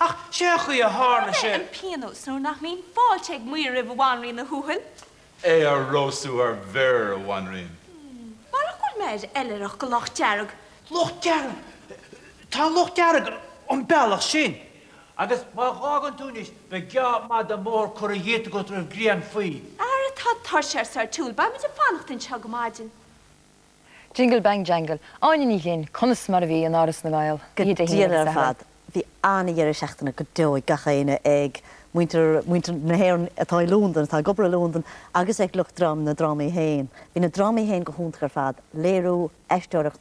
Ach sé an chaoi a tharla sé. An pionós nuair nach mbíonn fáilte ag maor roimh bhanríon Uí Thuathail, é a róstadh ar bhior a bhanríon. Marach go bhfuil mé ar oilithreacht go Loch Dearg. Loch Dearg! Tá Loch Dearg an bealach sin. Agus má dh'fhágann tú anois, beidh geábh fada mór curtha dhíot agat roimh ghrian faoi. Ara tá tuirse ar Sir Toole, beimid ag fanacht anseo go maidin. Jingle Bang Jangle, Áine Ní Ghlinn, Conas mar a bhí in Áras na nGael, Go oíche Dé hAoine agus Satharn? Go diail ar fad, bhí an-dheireadh seachtaine go deo ag gach éinne, ag muintir na hÉireann atá i Londain, atá ag obair i Londain agus ag lucht dream na ndrámaí féin. Bhí na drámaí féin go hiontach ar fad, léiriú, aisteoireacht,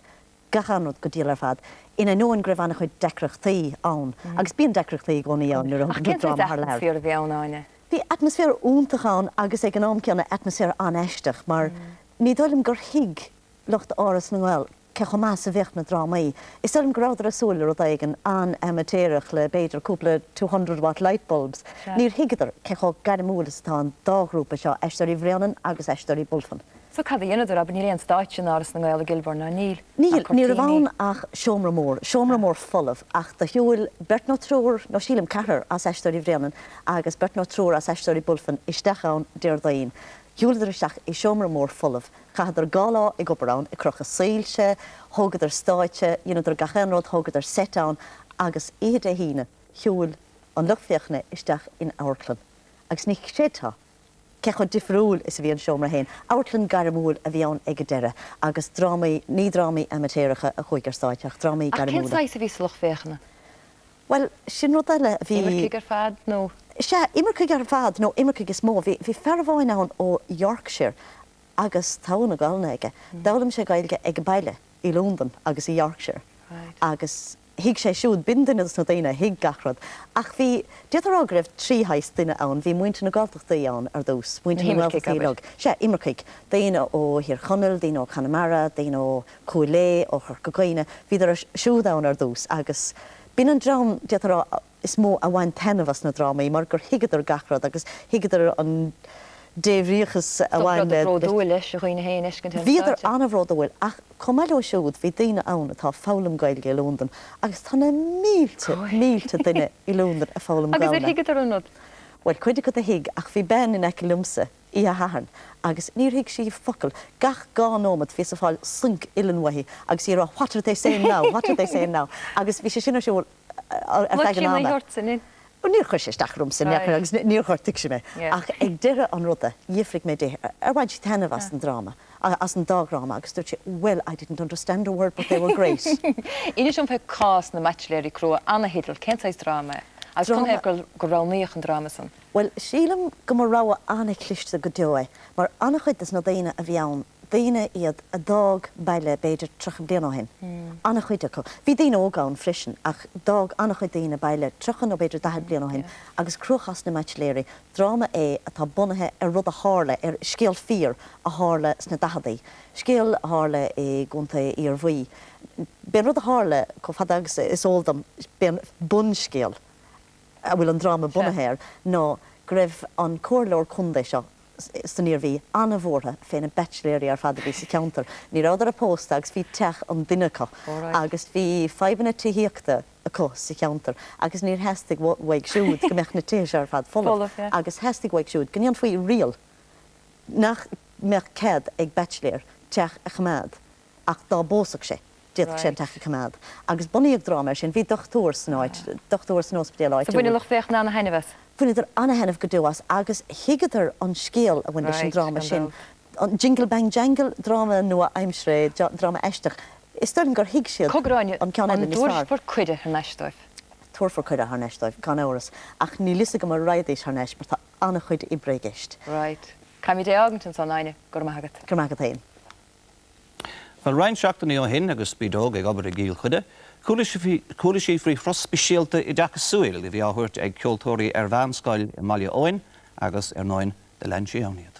gach aon rud go diail ar fad, in ainneoin go raibh an-chuid deacrachtaí ann, agus bíonn deacrachtaí i gcónaí ann nuair a thugann tú dráma thar lear. Ach cén sórt atmaisféar a bhí ann, Áine? Bhí atmaisféar iontach ann agus ag an am céanna atmaisféar an-aisteach mar Ní dóigh liom gur thuig lucht Áras na nGael cé chomh maith is a bheadh na drámaí. Is dóigh liom go rabhadar ag súil le rud éigin an-amaitéarach le b'fhéidir cúpla two hundred watt lightbulbs. Níor thuigeadar cé chomh gairmiúil is atá an dá ghrúpa seo, Aisteoirí Bhréanainn agus Aisteoirí Bulfin. So cad a dheineadar? Abair, níl aon stáitse in Áras na nGael i gKilburn, nó an bhfuil? Níl, ní raibh ann ach seomra mór, seomra mór folamh. Ach do shiúil beirt nó triúr, nó sílim ceathrar, as Aisteoirí Bhréanainn agus beirt nó triúr as Aisteoirí Bulfin isteach ann Déardaoin. Shiúladar isteach i seomra mór folamh. Chaitheadar dhá lá ag obair ann, ag crochadh soilse, thógadar stáitse, dheineadar gach aon rud, thógadar seit ann, agus oíche Dé hAoine shiúil an lucht féachana isteach in amharclann agus ní chreidfeá cé chomh difriúil is a bhí an seomra féin. Amharclann ghairmiúil a bhí ann ag an deireadh agus drámaí, ní drámaí amaitéaracha a chuaigh ar stáitse ach drámaí gairmiúla. Ach cén saghas a bhí sa lucht féachana? Bhuel, sin rud eile, bhí. Imircigh ar fad nó? Sea, imircigh ar fad, nó imircigh is mó. Bhí, bhí fear amháin ann ó Yorkshire agus togha na Gaolainne aige. D'fhoghlaim sé Gaeilge ag baile, i Londain agus i Yorkshire. Right. Agus thuig sé siúd, b'in duine dos na daoine a thuig gach rud. Ach bhí, d'fhéadfá a rá go raibh trí shaghas duine ann. Bhí muintir na Gaeltachtaí ann ar dtús, muintir na nGaeltachtaí uilig. Sea, imircigh, daoine ó Thír Chonaill, daoine ó Chonamara, daoine ó. Chúil Aodha, ó Chorca Dhuibhne, bhíodar siúd ann ar dtús agus b'in an dream, d'fhéadfá a rá, is mó a bhain taitneamh as na drámaí mar gur thuigeadar gach rud agus thuigeadar an débhríochas a bhain le. Bhíodar an-bhródúil as a ndaoine féin a fheiscint ar an stáitse. Bhíodar an-bhródúil ach chomh maith leo siúd bhí daoine ann atá ag foghlaim Gaeilge i Londain agus tá na mílte duine i Londain ag foghlaim Gaolainne. Agus ar thuigeadar aon rud? Bhuel, cuid acu a thuig ach bhí bean in aice liomsa, í a hathair agus níor thuig sí focal. Gach dhá nóiméad bhíos ag fáil soinc uilleann uaithi agus í ag rá What are they saying now? What are they saying now? Agus bhí sé sin ar siúl ar feadh an ama. Níor chuir sé isteach orm sa ndeire agus níor ghortaigh sé mé. Ach ag deireadh an ruda, d'fhiafraigh mé di ar bhain sí taitneamh as an dráma, as an dá dhráma agus dúirt sí Well, I didn't understand a word but they were great. Inis dom faoi cás na mBaitsiléirí Crua, an-theideal, cén saghas dráma é? Agus canathaobh go roghnaíodh an dráma san? Bhuel, sílim go mba rogha an-chliste go deo é, mar an-chuid des na daoine a bhí ann, daoine iad a d'fhág baile b'fhéidir tríocha bliain ó shin, an-chuid acu. Bhí daoine óga ann freisin, ach d'fhág an-chuid daoine baile tríocha nó b'fhéidir daichead bliain ó shin, agus Cruachás na mBaitsiléirí, dráma é atá bunaithe ar rud a tharla, ar scéal fíor a tharla sna daicheadaí, scéal a tharla i gContae Iarmhí. B'é an rud a tharla, chomh fada agus is eol dom, b'é an bunscéal, a bhfuil an dráma bunaithe air, ná go raibh an Comhairleoir Contae seo san Iarmhí an-bhuartha fé na baitsiléirí ar fad a bhí sa cheantar. Ní rabhadar pósta agus bhí teach an duine acu agus bhí fadhbanna tithíochta acu sa cheantar agus níor theastaigh uaidh siúd go mbeadh na tithe seo ar fad folamh agus theastaigh uaidh siúd go ndéanfaí riail nach mbeadh cead ag baitsiléir teach a choimeád Ach dá bpósfadh sé, d'fhéadfadh sé an teach a choimeád. Agus bunaíodh dráma air sin. Bhí dochtúir san áit, dochtúir san óspidéal áitiúil. So bhain an lucht féachana ana-thaitneamh as? Bhaineadar ana-thaitneamh go deo as agus thuigeadar an scéal a bhain leis an dráma sin. An Jingle Bang Jangle, dráma nua-aimseartha é, dráma aisteach. Is dóigh liom gur thuig siad an ceann eile níos fearr. An dtabharfar cuireadh thar n-ais dóibh? Tabharfar cuireadh thar n-ais dóibh, gan amhras, ach níl 'fhios agam a' raghaidís thar n-ais mar tá ana-chuid oibre i gceist. Right. Caithfimid é fhágaint ansan, a Áine. Go raibh maith agat. Go raibh maith agat fhéin. Bhuel, roinnt seachtainí ó shin, agus Brídóg ag obair i gCill Chainnigh, chuala sí faoi thuras speisialta oideachasúil a bhí á thabhairt ag ceoltóirí ar mheánscoil i mBaile Eoin agus, ar ndóin, do lean sí ann iad.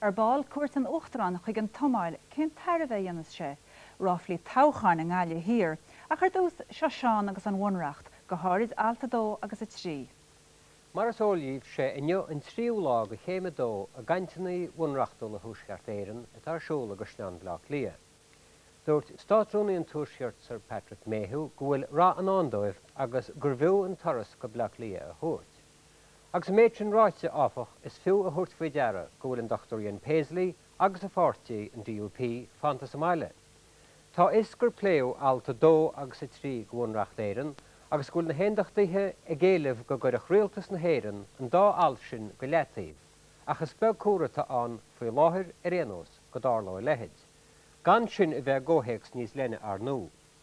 Ar ball, cuairt an Uachtaráin chuig an tSomáil, cén tairbhe a dhéanfas sé? Ráflaí toghcháin i nGaillimh Thiar. Ach ar dtús, seo Seán agus an Bhunreacht, go háirid Alt 2 agus 3. Mar is eol dhíbh, sé inniu an tríú lá de Chéim a Dó i gcainteannaí Bhunreachtúla Thuaisceart Éireann atá ar siúl i gCaisleán Bhleá Cliath. Dúirt Státrúnaí an Tuaiscirt, Sir Patrick Mayhew, go bhfuil rath i ndán dóibh agus gurbh fhiú an turas go Bleá Cliath a thabhairt. Agus an méid sin ráite, áfach, is fiú a thabhairt faoi deara go bhfuil an Dr Ian Paisley agus a pháirtí, an DUP, fanta sa mbaile. Tá a fhios gur pléadh Alt 2 agus 3 de Bhunreacht Éireann agus go bhfuil na hAondachtaithe ag éileamh go gcuirfeadh rialtas na hÉireann an dá alt sin go leataobh, ach is beag cosúlacht atá ann, faoi láthair ar aon nós, go dtarlódh a leithéid, gan sin a bheith i gcomhthéacs níos leithne arnú.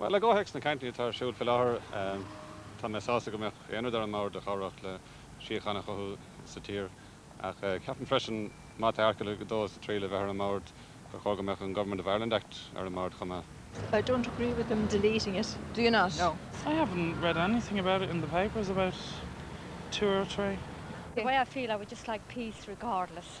Bhuel, i gcomhthéacs na gcainteanna atá ar siúl faoi láthair, tá mé sásta go mbeadh aon rud ar an mbord a chabhródh le síocháin a chothú sa tír. Ach ceapaim freisin, má tá Airteagal 2 is 3 le bheith ar an mbord, gur chóir go mbeadh an Government of Ireland Act ar an mbord chomh maith. I don't agree with them deleting it, do you not? No. I haven't read anything about it in the papers about two or three. The way I feel, I would just like peace regardless.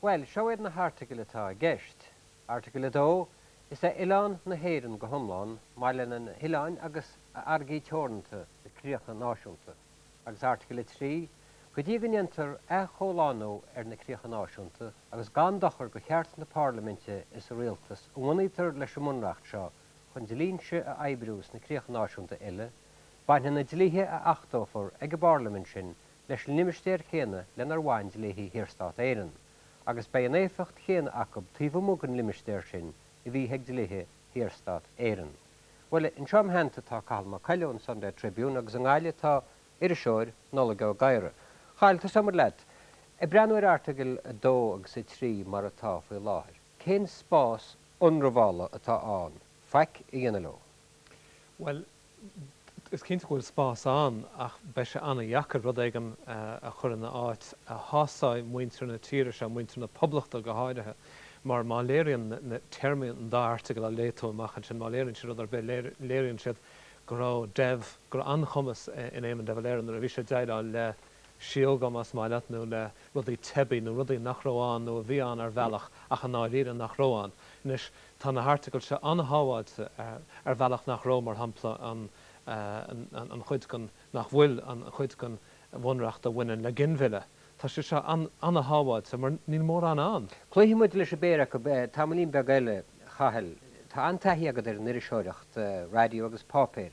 Bhuel, seo iad na hairteagail atá i gceist. Airteagal 2, Is é oileán na hÉireann go hiomlán, maille lena hoileáin agus a fharraigí teoranta, na críocha náisiúnta. Agus airteagal 3, Go dtí go ndéantar athchomhlánú ar na críocha náisiúnta, agus gan dochar do cheart na parlaiminte is an rialtais a bhunaítear leis an mBunreacht seo chun dlínse a oibriú sna críocha náisiúnta uile, bainfidh na dlíthe a achtófar ag an bparlaimint sin leis an limistéar céanna lenar bhain dlíthe Shaorstát Éireann, agus beidh an éifeacht chéanna acub taobh amuigh den limistéar sin a bhíodh ag dlíthe Shaorstát Éireann. Bhuel, anseo im' theannta tá Cathal Mac Coille ón Sunday Tribune agus i nGaillimh tá an t-iriseoir, Nollaig Ó Gadhra. Chathal, tosóimid leat. Ag breathnú ar Airteagal 2 agus 3 mar atá faoi láthair, cén spás ionramhála atá ann faic a dhéanamh leo? Bhuel, Is cinnte go bhfuil spás ann ach beidh sé an-deacair rud éigin a chur ina áit a shásóidh muintir na tíre seo, muintir na Poblachta go háirithe, mar má léiríonn na téarmaí an dá airteagal a léigh tú amach ansin, má léiríonn siad rud ar bith, léiríonn siad go raibh Dev, go raibh an-chumas in Éamon de Valera nuair a bhí sé ag déileáil le síóga, más maith leat, nó le rudaí teibí, nó rudaí nach raibh ann nó a bhí ann ar bhealach ach i ndáiríre nach raibh ann. Anois. Tá na hairteagail seo an-shábháilte ar bhealach nach raibh, mar shampla, an chuid den, nach bhfuil, an chuid den Bhunreacht a bhaineann le ginmhilleadh. Tá sé seo an-shábháilte mar níl mórán ann. Cloífidh muid leis an bpéire acu tamaillín beag eile, a Chathail. Tá an-taithí agat ar an iriseoireacht raidió agus páipéir,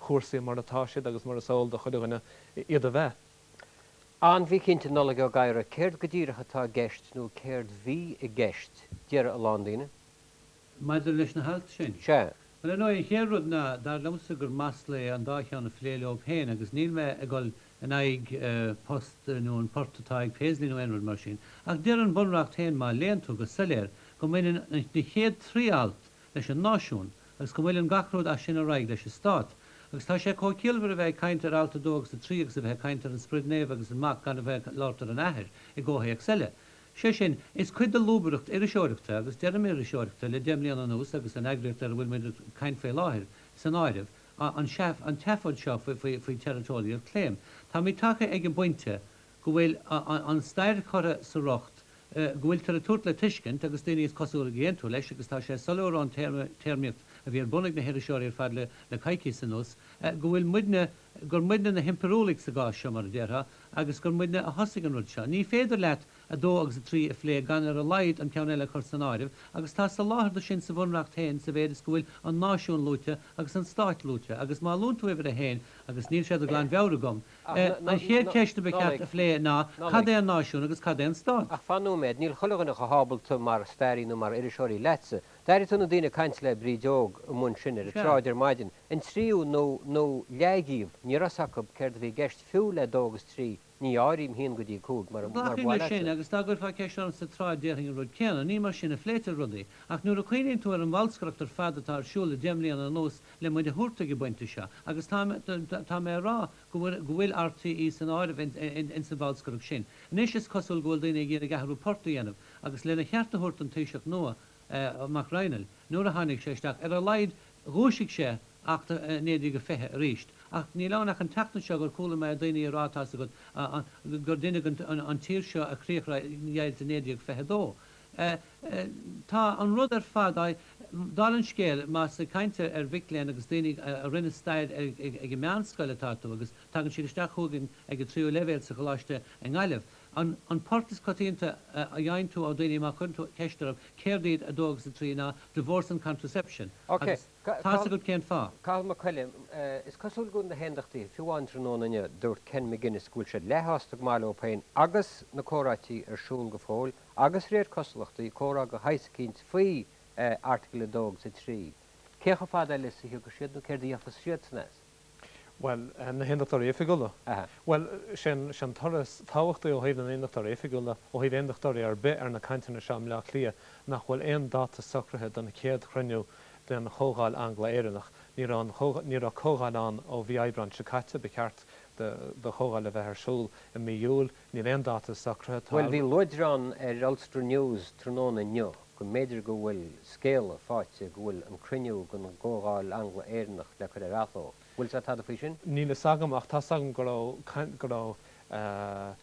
cúrsaí mar atá siad agus mar is eol do chuile dhuine iad a bheith an-mhíchinnte, Nollaig Ó Gadhra, céard go díreach atá i gceist nó céard bhí i gceist, déarfaidh a lán daoine. maidir leis na hailt sin? Sea. Bhuel, ar ndóigh, an chéad rud ná, dar liomsa gur masla é an dá cheann a phlé leob féin agus níl mé ag dul in aghaidh post nó an port atá ag Paisley nó aon rud mar sin. Ach deir an Bunreacht féin, má léann tú go soiléir, go mbaineann na chéad trí alt leis an náisiún. agus go bhfuil gach rud as sin ar aghaidh leis an stát. Agus tá sé chomh ciallmhar a bheith ag caint ar alt a dó agus a trí agus a bheith ag caint ar an Sprid Naomh agus an Mac gan a bheith ag labhairt ar an Athair i gcomhthéacs eile. Sé sin, is cuid de lúbaireacht iriseoireachta, agus deirim iriseoireachta le deich mbliana anuas agus an eagraíocht ar a bhfuil muid ag caint faoi láthair san áireamh, an tseafóid seo faoi territorial claim. Táimid tagtha ag an bpointe, go bhfuil an stair curtha sa rocht, go bhfuiltear ag tabhairt le tuiscint, agus daoine is cosúil ag aontú leis, agus tá sé soiléir ón téarmaíocht a bhí ar bun ag na hiriseoirí ar fad le coicís anuas, go bhfuil muidne, gur muidne na himpiriúlaigh sa gcás seo, mar a déarfá, agus gur muidne a thosaigh an rud seo. Ní féidir leat a dó agus a trí a phlé gan ar a laghad an ceann eile a chur san áireamh, agus tá soláthar do sin sa Bhunreacht féin sa mhéid is go bhfuil an náisiún luaite agus an stát luaite, agus má luann tú uimhir a haon, agus níl sé de ghlanmheabhair agam, An chéad ceist a ba cheart a phlé ná cad é an náisiún agus cad é an stát? Ach fan nóiméad, níl chuile dhuine chomh hábalta mar stairí nó mar iriseoir leatsa. D'airigh tú na daoine ag caint le Bríd Óg Ní Bhuachalla ar an tsráid ar maidin. An tríú nó nó leath dhíobh, ní raibh a fhios acu céard a bhí i gceist fiú le dó agus trí, ní áirím haon go dtí cúig, mar ba mhaith leatsa. Agus dá gcuirfeá ceist orm sa tsráid déarfainn an rud céanna. Ní mar sin a phléitear rudaí. Ach nuair a chuimhníonn tú ar an bholscaireacht ar fad atá ar siúl le deich mbliana anuas le muid a thabhairt ag an bpointe seo agus tá mé tá mé a rá go bhfuil go bhfuil RTÉ san áireamh in in in san bholscaireacht sin. Anois is cosúil go bhfuil daoine ag iarraidh athrú poirt a dhéanamh agus lena cheart a thabhairt don Taoiseach nua, Mac Raghnaill, nuair a tháinig sé isteach, ar a laghad dhúisigh sé Acht 1920 arís. Ach níl ann ach an tseachtain seo gur chuala mé daoine a rá tá's agat an gur rinneadh an an tír seo a chríochdheighilt i 1922. Eh, tá an rud ar fad á, dála an scéil, más ag caint ar, ar mhic léinn agus daoine a rinne staidéar, ag, ag an meánscoil atá tú agus tagann siad isteach chugainn ag an tríú leibhéal sa gcoláiste i nGaillimh, an, an port is coitianta a fhaigheann tú ó daoine má chuireann tú ceist orthu céard iad a dó agus a trí ná divorce and contraception Ok, agus tá fhios agat cén fáth. Cathal Mac Coille, Eh, is cosúil go bhfuil na hAondachtaithe, fiú amháin tráthnóna inniu dúirt Ken Maginnis go bhfuil siad leathshásta go maith faobh féin agus na comhráití ar siúl go fóill, agus réir cosúlachtaí, comhrá de shaghas eicínt faoi Article 2 agus 3. Cé chomh fada eile is a thiocfaidh siad nó céard a dhéanfas siadsan as? Bhuel, na hAondachtóirí Oifigiúla? Bhuel, sin an toradh is tábhachtaí ó thaobh na nAondachtóirí Oifigiúla, ó thaobh Aondachtóirí ar bith ar na cainteanna seo i mBleá Cliath, nach bhfuil aon dáta socraithe don chéad chruinniú den Chomhdháil Angla-Éireannach. Ní raibh, ní raibh Comhdháil ann ó mhí Aibreáin seo caite, ba cheart do Chomhdháil a bheith ar siúl i mí Iúil, Níl aon dáta socraithe, tá. Bhuel, bhí luaidreán ar Ulster News tráthnóna inniu go mb'fhéidir go bhfuil scéala faighte go bhfuil an cruinniú den gComhdháil Angla-Éireannach le cur ar athló. Bhfuil 's a'd tada faoi sin? Níl fhios agam ach tá 's agam go raibh caint, go raibh eh,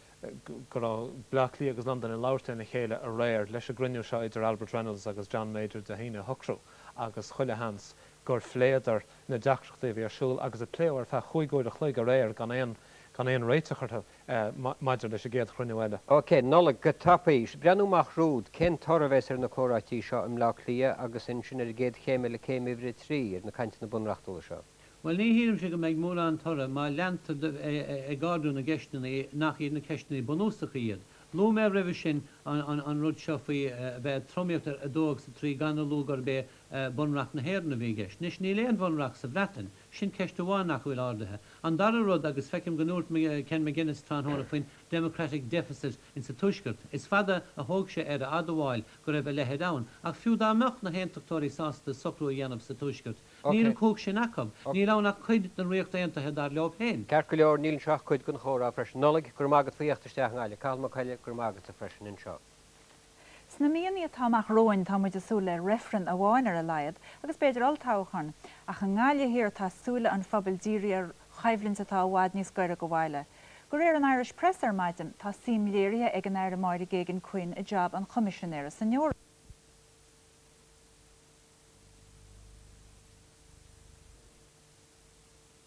go raibh Bleá Cliath agus Londain ag labhairt lena chéile aréir leis an gcruinniú seo idir Albert Reynolds agus John Major Dé hAoine a shocrú agus chuile sheans gur phléadar na deacrachtaí a bhí ar siúl agus a pléadh ar feadh chúig uair a chloig aréir gan aon, gan aon réiteach orthu. maidir leis an gcéad chruinniú eile. OK, Nollaig, go tapaidh. Breathnú amach romhat, cén toradh a bheas ar na comhráití seo i mBleá Cliath agus ansin ar an gcéad chéim eile, céim uimhir a trí, ar na cainteanna bunreachtúla seo. Bhuel, ní shílimse go mbeidh mórán toradh má leantar ag ardú na gceisteanna nach iad na ceisteanna bunúsacha iad. Luaigh mé roimhe sin an rud seo faoi bheith ag tromaíocht ar a dó agus a trí gan a lua gurb é bunreacht na hÉireann a bhí i gceist. Anois, níl aon bhunreacht sa Bhreatain. Sin ceist amháin nach bhfuil ardaithe. An dara rud, agus feicim go ndúirt Ken Maginnis tráthnóna faoin democratic deficit in sa Tuaisceart, is fada a thóg sé air a admháil go raibh a leithéid ann, ach fiú dá mbeadh na hAontachtóirí sásta socrú a dhéanamh sa Tuaisceart, níl an cumhacht sin acu. Níl ann ach cuid den Ríocht Aontaithe dar leo féin. Ceart go leor, níl anseo ach cuid den chomhrá freisin. Nollaig, go raibh maith agat faoi thíocht isteach, i nGaillimh. Cathal Mac Coille, go raibh maith agatsa freisin anseo. Sna míonna atá amach romhainn tá muid ag súil le reifreann amháin ar a laghad, agus b'fhéidir olltoghchán, ach i nGaillimh Thiar tá súile an phobail dírithe ar choimhlint atá i bhfad níos gaire go bhaile. Go réir an Irish Press ar maidin, tá suim léirithe ag an Aire Máire Geoghegan Quinn i jab an Choimisinéara san Eoraip.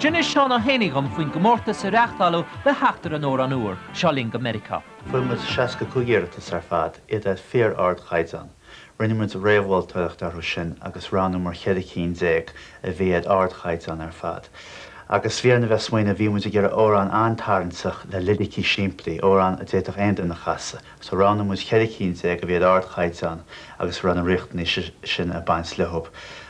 D'inis Seán Ó hÉanaí dhom faoin gcomórtas a reáchtáladh le theacht ar an amhrán úr, Seo Linn go Meiriceá. Fuair muid 65 iarratas ar fad, iad ar fíor-ardchaighdeán. Rinne muid réamh-mholtóireacht orthu sin agus roghnaíomar ceithre cinn déag a bhí ar ardchaighdeán ar fad. Agus bhí orainn a bheith ag smaoineamh, bhí muid ag iarraidh amhrán an-tarraingteach le liricí simplí, amhrán a d'fhéadfadh aon duine a chasadh. So roghnaigh muid ceithre cinn déag a bhí ar ardchaighdeán agus a raibh na riachtanais sin ag baint leo.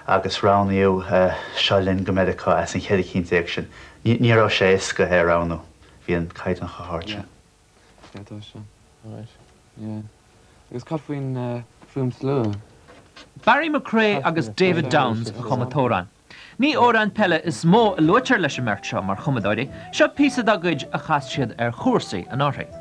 Agus roghnaíodh Seo Linn go Meiriceá as an cheithre cinn déag sin. Ní raibh sé éasca é a roghnú, bhí an caighdeán chomh hard sin. Yeah, tá sin right. Yeah. Agus cad faoin, faoin slua? Barry McCrea agus David Downes a chum an t-amhrán. Ní amhráin peile is mó a luaitear leis an mbeirt seo mar chumadóirí, seo píosa dá gcuid a chas siad ar Chúrsaí anuraidh.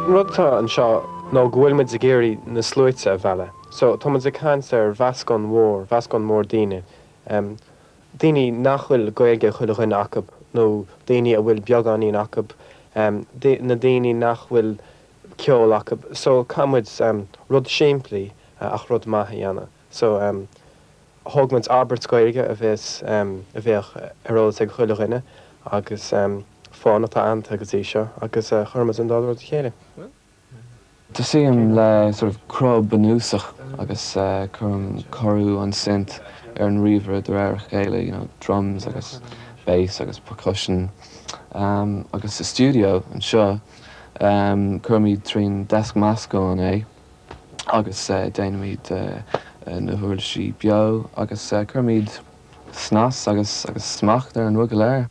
An rud atá anseo nó go bhfuil muid ag iarraidh na sluaite a mhealladh. So, tá muid ag caint ar mheascán mhór, mheascán mór daoine. daoine nach bhfuil Gaeilge ag chuile dhuine acu nó daoine a bhfuil beagáinín acu, na daoine nach bhfuil ceol acu. So caithfidh muid rud simplí ach rud maith a dhéanamh. So thóg muid abairt Gaeilge a bheas, a bheadh ar eolas ag chuile dhuine agus fonn atá aitheanta go dtí seo agus chuir muid an dá rud le chéile. Tosaím le sort of cruth bunúsach agus cuirim cóiriú an synth ar an ríomhaire de réir a chéile, you know, drums agus bass agus percussion. Agus sa stiúideo anseo, cuirimid trín deasc meascáin é agus déanaimid na huirlisí beo agus cuirimid snas agus smacht ar an rud go léir.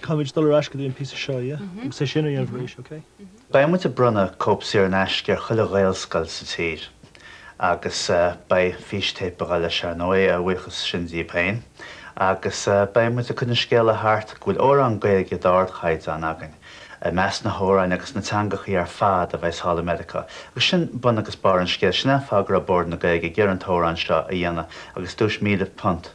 Caithfimid dul ar ais go dtí an píosa seo, yeah? Agus é sin a dhéanamh arís, okay? Beidh muid ag bronnadh cóip saor in aisce ar chuile Ghaelscoil sa tír agus beidh fístéipeacha leis ar ndóigh, a bhuíochas sin díobh féin, agus beidh muid ag cur an scéala thart go bhfuil amhrán Gaeilge d'ardchaighdeán againn i measc na hamhráin agus na teangachaí ar fad a bheas thall i Meiriceá. Agus sin bun agus barr an scéil. Sin an fáth go raibh Bord na Gaeilge ag iarraidh an t-amhrán seo a dhéanamh agus duais £1,000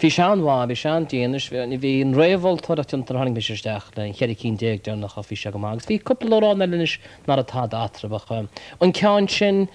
Bhí sé an-mhaith, bhí sé an-dian, is bhí an réamh-mholtóireacht déanta nuair a tháinig mise isteach le cheithre cinn déag deireanach ach bhí sé go maith agus bhí cúpla amhrán eile anois nach raibh tada eatarthu ach an ceann sin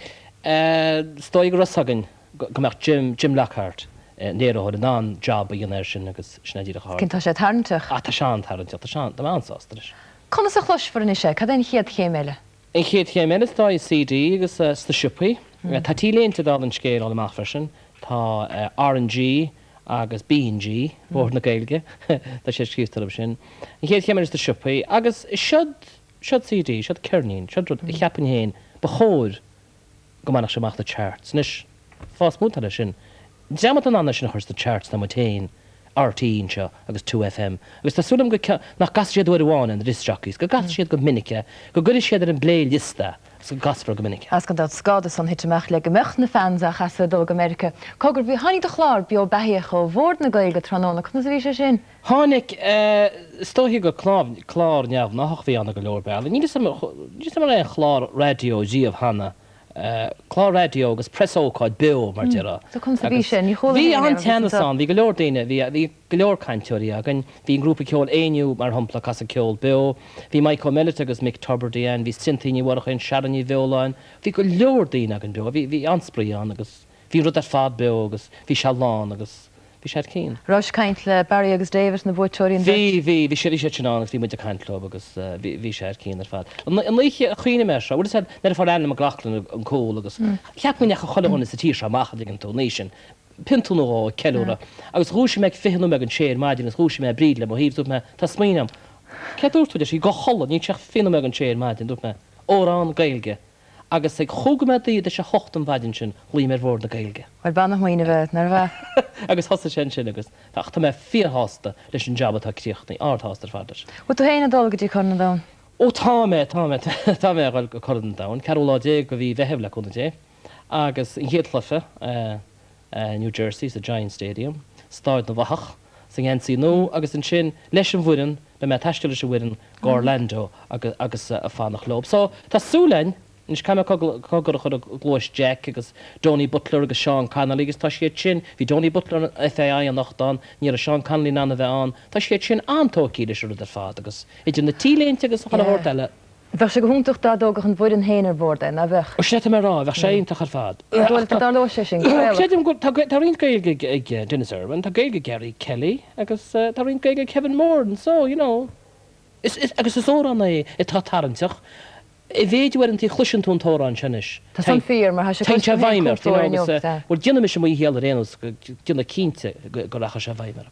is dóigh go raibh 's againn go mbeadh Jim, Jim Lockhart, an léiritheoir, in ann job a dhéanamh air sin agus sin é díreach a rinne. Tá sé tarraingteach. Ah, tá sé an-tarraingteach, tá sé an, tá mé an-sásta leis. Conas a chloisfear anois é, cad é an chéad chéim eile? An chéad chéim eile tá CD agus sna siopaí. Tá T-léinte ag dul an scéal eile amach freisin. Tá RnaG agus BnaG, Bord na Gaeilge, tá sé scríofa orthu sin. An chéad chéim eile sna siopaí. Agus seod, seod CD, seod ceirnín, seod rud a cheapaim féin ba chóir go mbainfeadh sé amach na charts. Anois, fáth is mó atá leis sin. Dream atá in ann é sin a chur sna charts ná muid féin, RTÉ anseo agus 2FM, agus tá súil agam go, nach gcasfaidh siad uair amháin na disc jockeys, go gcasfaidh siad go minic é, go gcuirfidh siad ar an bplay liosta agus go gcasfar go minic é. Is gan dabht is gá dó san a thitim amach le go mbeadh na fans á chasadh ag dul go Meiriceá. Cogar, bhí, tháinig do chlár beo beathaíoch ó Bhord na Gaeilge tráthnóna, conas a bhí sé sin? Tháinig, is dóiche gur clár, clár neamhgnáthach a bhí ann ar go leor bealaí. Níl 'fhios a'm, níl 'fhios a'm an raibh aon chlár raidió riamh cheana, clár raidió agus preasócáid beo mar déarfá. So conas a bhí sé? Ní chuala mé féin é. Bhí an-teannas ann, bhí go leor daoine, bhí, bhí go leor cainteoirí againn, bhí an grúpa ceoil Éinniú mar shampla ag casadh ceol beo, bhí Mike Ó Meilit agus Mick Tubridy ann, bhí Cynthia Ní Mhurchú ann, Sharon Ní Bheoláin, bhí go leor daoine againn beo, bhí, bhí an-spraoi ann agus Bhí an rud ar fad beo agus bhí sé lán agus bhí sé thar cionn. Rabhais ag caint le Barry agus David, na buaiteoirí, an bheirt? Bhí, bhí, bhí siad, bhí siad sin ann agus bhí muid ag caint leo agus bhí, bhí sé thar cionn ar fad. An, an oíche a chuimhnigh mé air seo, bhuel is ea, nuair a fuair Alan McLoughlin an cúl agus cheap mé go ndeachaigh chuile dhuine sa tír seo amach an dtuigeann tú, an oíche sin, pionta nó dhó ag ceiliúradh agus dhúisigh mé ag fiche nóiméad ag an sé ar maidin agus dhúisigh mé Bríd le mo thaobh, dúirt mé, tá smaoineamh a'm, céard dúirt tú, deir sí, gabh a chodladh, níl sé ach fiche nóiméad ag an sé ar maidin, dúirt mé, amhrán Gaeilge. Agus ag chúig nóiméad tar éis a hocht an mhaidin sin, ghlaoigh mé ar Bhord na Gaeilge. Bhuel, b'ana-smaoineamh é, nárbh ea? Agus thosaigh sé ansin agus, tá, ach tá mé fíorshásta leis an jab atá críochnaithe. Ardshásta ar fad leis. Bhfuil tú féin ag dul go dtí Corn an Domhain? Ó tá mé, tá mé, tá mé ag dul go Corn an Domhain, ceathrú lá déag de mhí Mheithimh le cúnamh Dé. Agus an chéad chluiche. I New Jersey, sa Giants Stadium, Stáid na bhFathach, sa ngeansaí nua agus ansin leis an bhfoireann, beidh mé ag taisteal leis an bhfoireann go Orlando agus ag fanacht leo. So, tá súil againn, anois caithfidh mé cogar a chur i gcluais Jack agus Donie Butler agus Sean Connolly agus tá siad sin, bhí Donie Butler FAI anocht ann, ní raibh Sean Connolly in ann a bheith ann, tá siad sin an-tógtha leis an rud ar fad agus idir na T-léinte agus a chuile shórt eile. Bheadh sé go hiontach dá dtógadh an fhoireann féin ar bhord é, ná beadh? Sin é atá mé a rá, bheadh sé iontach ar fad. Ach dóigh liom go dtarlóidh sé sin, go fóilleach. Creidim go, tá, tá roinnt Gaeilge ag Denis Irwin, tá Gaeilge ag Gary Kelly agus tá roinnt Gaeilge ag Kevin Moran and so, you know. Is, is, agus is amhrán é atá tarraingteach, a mhéid a bhfuil inti, chloiseann tú an t-amhrán seo anois, Tá san fíor, mar tá sé cloiste agam féin cúpla uair inniu, agus, bhuel, déanfaidh mise mo dhícheall ar aon nós, déanfaidh cinnte go rachaidh sé i bhfeidhm air.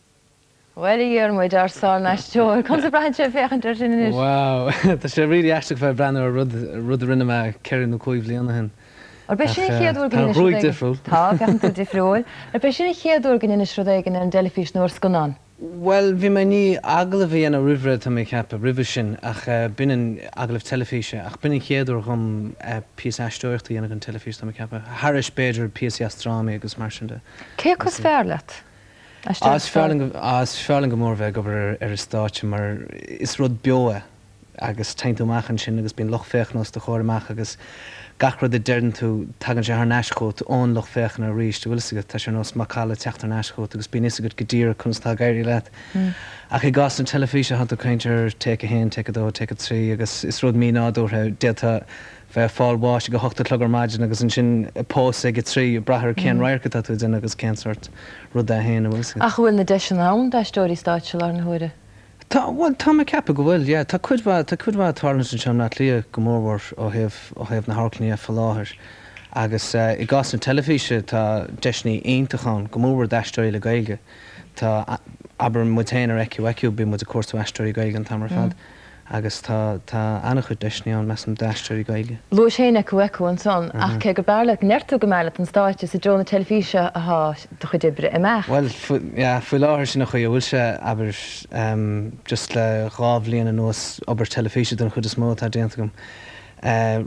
Bhuel, a Dhiarmuid, ár sáraisteoir, conas a bhraitheann sé ag féachaint air sin anois? Wow! Tá sé really aisteach bheith ag breathnú ar rud, rud a rinne mé ceithre nó cúig bhliain ó shin. Arbh í sin an chéad uair go ndéanais rud éigin? Tá an ghruaig difriúil. Tá, féachann tú difriúil. Arbh í sin an chéad uair go ndeinis rud éigin ar an dteilifís nó ar scannán? Bhuel, bhí mé i ndiaidh agallamh a dhéanamh roimhré, tá mé ag ceapadh, roimhe sin, ach b'in an, agallamh teilifíse, ach b'in an chéad uair dhom píosa aisteoireachta a dhéanamh don teilifís, tá mé ag ceapadh. Thairis, b'fhéidir, píosaí as drámaí agus mar sin de. Cé acu is fearr leat? Is fearr liom go mór bheith ag obair ar an stáitse mar is rud beo é agus téann tú amach ansin agus bíonn lucht féachana os do chomhair amach agus gach rud a deireann tú tagann sé thar n-ais chugat ón lucht féachana arís, a' bhfuil 'fhios agat, tá sé ar nós macalla ag teacht thar n-ais chugat agus bíonn 'fhios agat go díreach conas atá ag éirí leat. Ach i gcás na teilifíse thá tú ag caint ar take a haon, take a dó, take a trí agus is rud mí-nádúrtha, d'fhéadfá bheith ag fáil bháis ag a hocht a chlog ar maidin agus ansin pósadh ag a trí, ag brath ar cén radharc atá tú ag déanamh agus cén sórt rud é féin, a' bhfuil 'fhios agat. Ach an bhfuil na deiseanna ann d'aisteoirí stáitse i láthair na huaire? Tá, bhuel, tá mé ag ceapadh go bhfuil, yeah. Tá cuid mhaith, tá cuid mhaith ag tarlúint anseo i mBleá Cliath go mór mhór ó thaobh, ó thaobh na hamharclainne fá láthair. Agus eh, i gcás na teilifíse tá deiseannaí iontach ann, go mór mhór d'aisteoirí le Gaeilge. Tá, abair muid féin ar Ecu Ecu bíonn muid ag cuartú aisteoirí Gaeilge an t-am ar fad. agus tá an-chuid deiseanna ann, measaim, d'aisteoirí Gaeilge. Luaís an Ecu Ecu ansan, ach cé gur b'fhearr leat go ndeir tú go mb'fhearr leat an stáitse, is i dtreo na teilifíse atá do chuid oibre ag imeacht. Bhuel, yeah, faoi láthair sin an chaoi a bhfuil sé, abair, just le dhá bhliain anuas, obair teilifíse den chuid is mó atá déanta agam.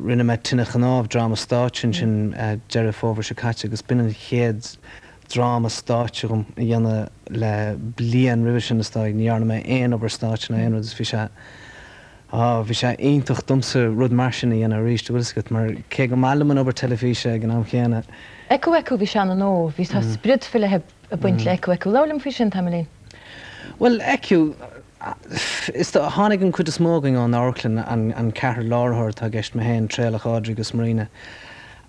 Rinne mé Tine Chnámh, dráma stáitse, ansin Deireadh Fómhair seo caite agus b'in an chéad dráma stáitse dom a dhéanamh le bliain roimhe sin, is dóigh. Ní dhearna mé aon obair stáitse ná aon rud is bhí sé, á, bhí sé iontach domsa rud mar sin a dhéanamh arís, an bhfuil 'fhios agat, mar cé gur maith liom an obair teilifíse ag an am chéanna, Ecu Ecu, bhí sé an-nua, bhí, tá sprid faoi leith ag baint le Ecu Ecu. Labhair liom faoi sin tamaillín. Bhuel, Ecu, is dóigh, tháinig an chuid is mó againn ón amharclann, an ceathrar láithritheoir atá i gceist, mé féin, Traolach, Audrey agus Marina,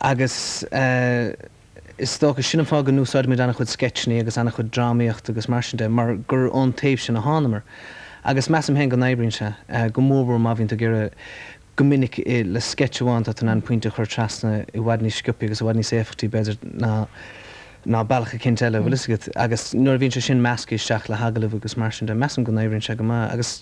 agus, eh, Is dócha, sin an fáth go n-úsáidimid an-chuid sceitseanna agus an-chuid drámaíocht agus mar sin de, mar gur ón taobh sin a thánamar. Agus measaim féin go n-oibríonn sé, go mórmhór má bhíonn tú ag iarraidh, go minic, le sceits amháin tá tú in ann pointe a chur trasna i bhfad níos sciobthaí agus i bhfad níos éifeachtaí, b'fhéidir, ná bealach eicínt eile, bhfuil fhios agat. Agus nuair a bhíonn sé sin measctha isteach le hagallamh agus mar sin de, measaim go n-oibríonn sé go maith. Agus.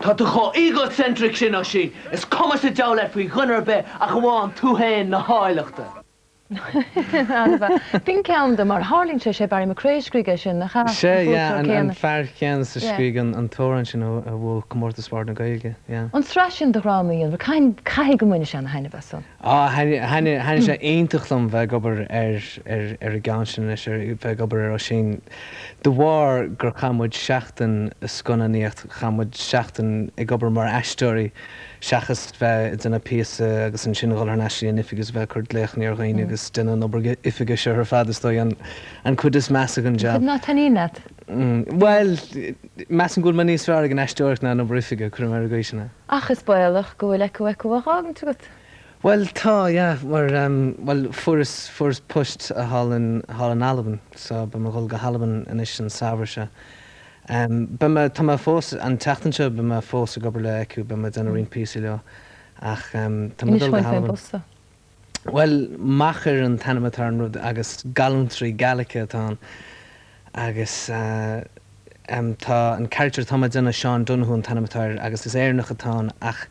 Tá tú chomh egocentric sin, a Oisín, is cuma sa diabhal leat faoi dhuine ar bith ach amháin tú fhéin, na háilleachta. B'in ceann de, mar a tharlaíonn sé, sé Barry McCrea a scrígh é sin, nach ea? Sea, yeah, an fear céanna a scrígh an t-amhrán sin a bhuaigh Comórtas Bhord na Gaeilge, yeah. An tsraith sin de dhrámaí, an bhfuil, caithfidh go mbaineann tú an-thaitneamh as san. Á, thaitnigh sé iontach liom bheith ag obair ar an gceann sin anois, bheith ag obair ar Oisín, de bharr gur chaith muid seachtain ag scannánaíocht, chaith muid seachtain ag obair mar aisteoirí seachas bheith ag déanamh píosa agus ansin a dhul thar n-ais go dtí an oifig agus bheith ag cur glaochanna ar dhaoine agus déanamh an obair oifige. Seo ar fad, is dóigh, an chuid is measa den jab. Nach dtaitníonn leat? Bhuel, measaim go bhfuil mé níos fearr ag an aisteoireacht ná an obair oifige, cuirfidh mé ar an gcaoi sin é. Ach is baolach go bhfuil Ecu Ecu á fhágaint agat. Bhuel, tá, yeah, mar, bhuel, fuaireas post thall in Albain, so beidh mé a dhul go hAlbain anois an Samhradh seo. Beidh mé, tá mé fós, an tseachtain seo beidh mé fós ag obair le Ecu, beidh mé ag déanamh roinnt píosaí leo, ach tá mé a dhul go hAlbain. Bhuel, Machair an t-ainm atá ar an rud agus gallúntraí Gaelach atá ann agus ehm, tá an character atá mé déanamh, Sean Donoghue an t-ainm atá air agus is Éireannach atá ann ach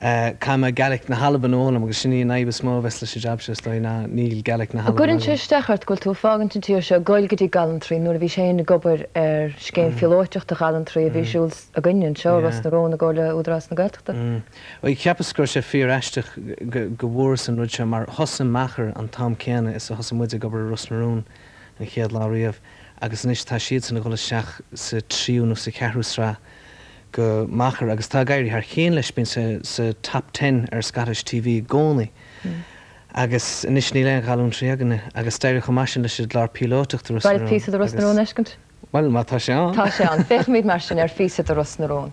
eh, caithfidh mé Gaelic na hAlban a fhoghlaim agus sin í an fhadhb is mó a bheas leis an jab seo is dóigh ná níl Gaelic na hAlban agam. Cuireann sé isteach ort go bhfuil tú ag fágaint an tír seo, goil go dtí Gallúntraí, nuair a bhís féin ag obair ar scéim phíolóiteach do ghallúntraí a bhí ar siúl againn anseo i Ros na Rún i gcomhar le Údarás na Gaeltachta. Mm. Cheapas go raibh sé fíor-aisteach go bhfuaireas an rud seo mar thosaigh Machair an t-am céanna is a thosaigh muid ag obair i Ros na Rún an chéad lá riamh agus anois tá siadsan ag dhul isteach sa tríú nó sa cheathrú sraith go Machair agus tá ag éirí thar cionn leis, bíonn sé sa Top Ten ar Scottish TV i gcónaí agus anois níl aon ghallúntraí againne agus d'éirigh chomh maith sin leis an gclár píolótach de Ros na Rún agus. Beidh píosa de Ros na Rún a fheiscint? Bhuel, má tá sé ann. Tá sé ann. Féachfaimid mar sin ar phíosa de Ros na Rún.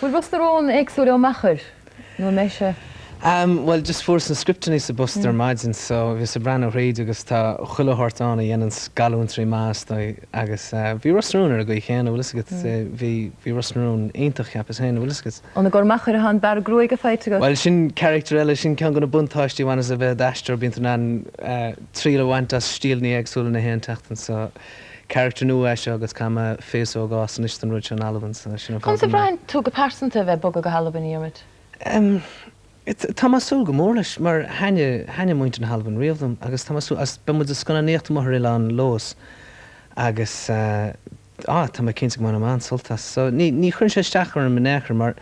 Bhfuil Ros na Rún éagsúil ó Machair nó an mbeidh sé. Bhuel, just fuaireas na scripteannaí sa bpost ar maidin so bhíos ag breathnú thríd agus tá chuile shórt ann a dhéananns gallúntraí maith is dóigh agus bhí Ros na Rún ar an gcaoi chéanna, bhfuil 'fhios agat, bhí, bhí Ros na Rún iontach cheapas féin, bhfuil 'fhios agat. An i gcomhair Machair atá an bearradh gruaige faighte agat? Bhuel sin character eile, sin ceann go na buntáistí a bhaineas le bheith i d'aisteoir, bíonn tú in ann triail a bhaint as stíleanna éagsúla nach aon tseachtain so, character nua é seo agus caithfidh mé féasóg a fhás anois don rud seo in Albain so sin an fáth go mbeidh. Conas a bhraitheann tú go pearsanta a bheith ag bogadh go hAlbain, a Dhiarmuid? Em, it, tá mé ag súil go mór leis mar thaitnigh, thaitnigh muintir na hAlban riamh liom agus tá mé ag súil, agus beidh muid ag scannánaíocht amuigh ar oileán Leodhas agus eh, á, tá mé cinnte go mbainfidh mé an-sult as. So, ní, ní chuireann sé isteach orm in aon chor mar.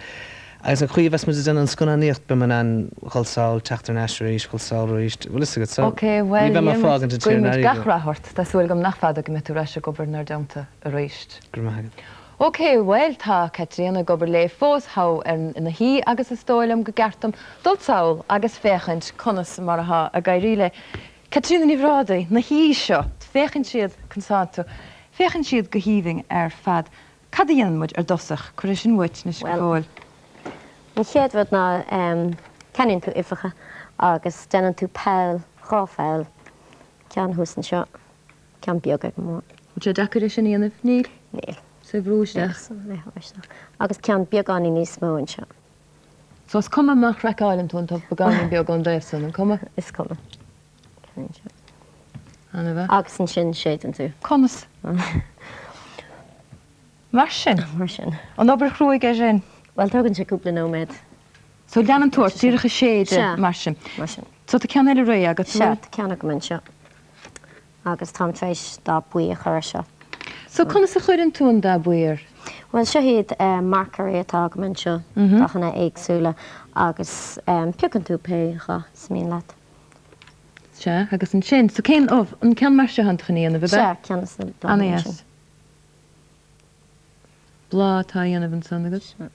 Agus an chaoi a bheas muid ag déanamh an scannánaíocht, beidh muid in ann dhul sall, teacht thar n-ais arís, dhul sall arís, bhfuil fhios agat. So, ní bheidh mé ag fágaint an tír in airde. Ok, bhuel, Diarmuid, guímid gach rath ort, tá súil agam nach fada go mbeidh tú ar ais ag obair inár dteannta arís. Go raibh maith agat. Ok, bhuel, tá Caitríona ag obair léi fós thall ar na huibhe agus is dóigh liom go gceart dom dul sall agus féachaint conas mar atá ag éirí le Caitríona Ní Bhrádaigh, na huibhe seo, féachann siad, conas atá tú? féachann siad go haoibhinn ar fad. Cad a dhéanann muid ar dtosach? Cuir é sin uait anois go fóill. Bhuel, an chéad rud ná ceannaíonn tú uibheacha agus déanann tú poll, dhá pholl, ceann thuas anseo, ceann beag ag an mbun. An sé deacair é sin a dhéanamh? Níl. Níl. Is é bhrú isteach. Níl. Bheith bhrú isteach. Agus ceann beagáinín níos mó anseo. So is cuma má chraiceáileann tú an t-ubh beagáinín beag ón dtaobh san, an cuma? Is cuma. Agus ansin séideann tú. Conas? Mar sin? Mar sin. An obair chruaidh é sin? Bhuel, tógann sé cúpla nóiméad. So leanann tú ort díreach ag séideadh mar sin. Sea. Mar sin. So tá ceann eile réidh agat. Sea, tá ceann agam anseo. Agus táim tar éis dath buí a chur air seo. So conas a chuireann tú an dath buí air? Bhuel, seo iad marcóirí atá agam anseo, dathanna éagsúla, agus piocann tú pé dhath is mian leat. Sea, agus ansin? So cén, oh, an ceann mar seo atánn tú chun a dhéanamh, ab ea? Sea, ceann as na bláthanna ansin. Ana-dheas. Bláth atá á dhéanamh ansan agat? Sea.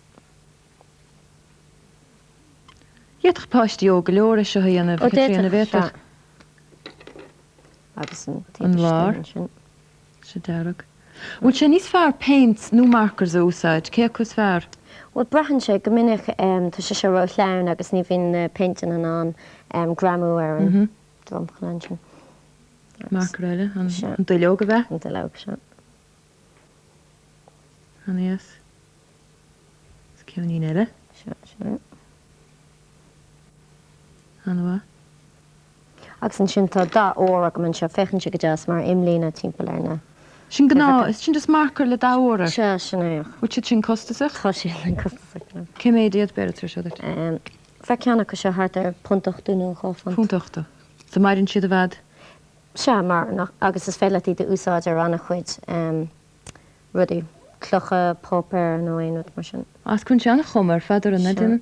D'fhéadfadh páistí óg go leor é seo a dhéanamh, a Chaitríona, an bhféadfadh? Sea. Agus an taobh istigh ansin. Sea, Dearg. Bhfuil sé níos fearr paints nó markers a úsáid? Cé acu is fearr? Bhuel, braitheann sé. Go minic tá sé seo ró-shleamhain agus ní bhíonn na péinteanna in ann greamú ar an dromchla ansin. Marker eile, an duilleog, ab ea? An duilleog seo. An é as? Is ceann eile. Seo, seo. An-mhaith. Agus ansin tá dath ór agam anseo, féachann sé go deas mar imlíne timpeall ar na. Sin gnáth, is sin just marker le dath ór air? Sea, sin é ach. Bhfuil siad sin costasach? Tá siad an-chostasach, you know. Cé mhéad iad, b'fhéidir, tuairim? Ehm, bheadh ceann acu seo thart ar punt ochtó nó dhá phunt. Punt ochtó. So maireann siad i bhfad? Sea, maireann ach, agus is féidir leat iad a úsáid ar an-chuid ehm rudaí, clocha, páipéar nó aon rud mar sin. Cuireann sé an-chuma ar fad ar an, an, an.